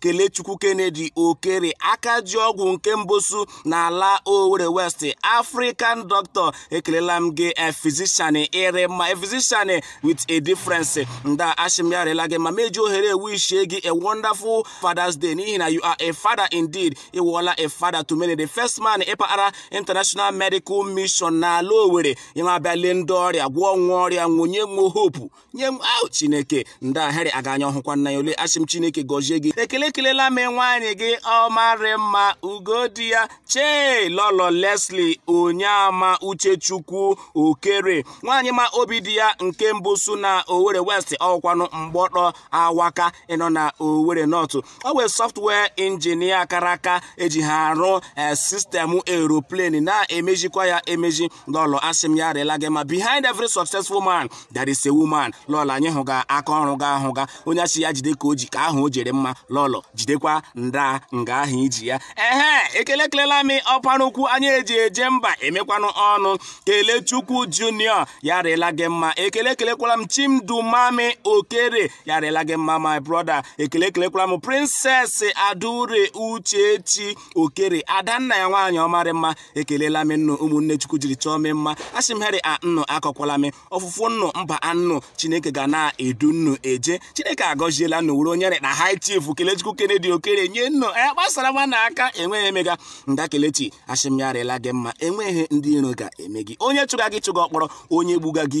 kelechukwu kennedy okere aka ji ọgwụ nke mbosu n'ala owere west african doctor ekelela m gị a physician ị rị mma a physician with a difference nda ashị m ya rịla gị mma m eji ohere a wishie gị a wonderful father's day n'ihi na you are a father indeed ị wụọla a father to many the first man ịpaghara international medical mission n'ala owere ịma abịa lee ndị ọrịa gwọọ nwa ọrịa wee nye nwa hope nye nwa chineke ndị ahịrị aga anya ọhụkwa nna ya ole asị m chineke gọzie gị ekele ekelela m nwaanyị gị ọmarị mma ugo di ya chief lọlọ leslie onyeama uchechukwu okere nwaanyị ma obi di ya nke mbụ su na owere west ọ wụkwanụ mgbọtọ awaka ịnọ na owere north ọ wụ a software engineer kara aka eji ha arụ eh, system aeroplane na-emezikwa ya emezi lọlọ asị m ya rịla gị mma behind every successful man there is a woman lọlọ anyị hụ ga aka ọrụ gị ahụ ga onye asị ya jide ka o ji ka ahụ o ji rị mma lọlọ jidekwa nda nga ahụ iji ya ehe ekele ekelela m ọpara ukwu anyị eji eje mba emekwanụ ọnụ kelechukwu junior ya rịla gị mma ekele ekelekwala m chimdumami okere ya rịla gị mma my brother ekele ekelekwala m princess adaure uchechi okere adanna ya nwaanyị ọmarị mma ekelela m nnụ ụmụnne chukwu jiri chọọ m mma asị m heri annụ akọkwala m ọfụfụ nnụ mba annụ chineke ga na-edu nnụ eje chineke agọziela nnụ wuru onye rị na high chief kelechukwu kennedy okere nye nnụ ya e, gbasara nwa na aka enweghị emega nda kelechi asị m ya rịla gị mma enweghị ndị iro ga-eme gị onye chụga gị chụga ọkpọrọ onye gbuga gị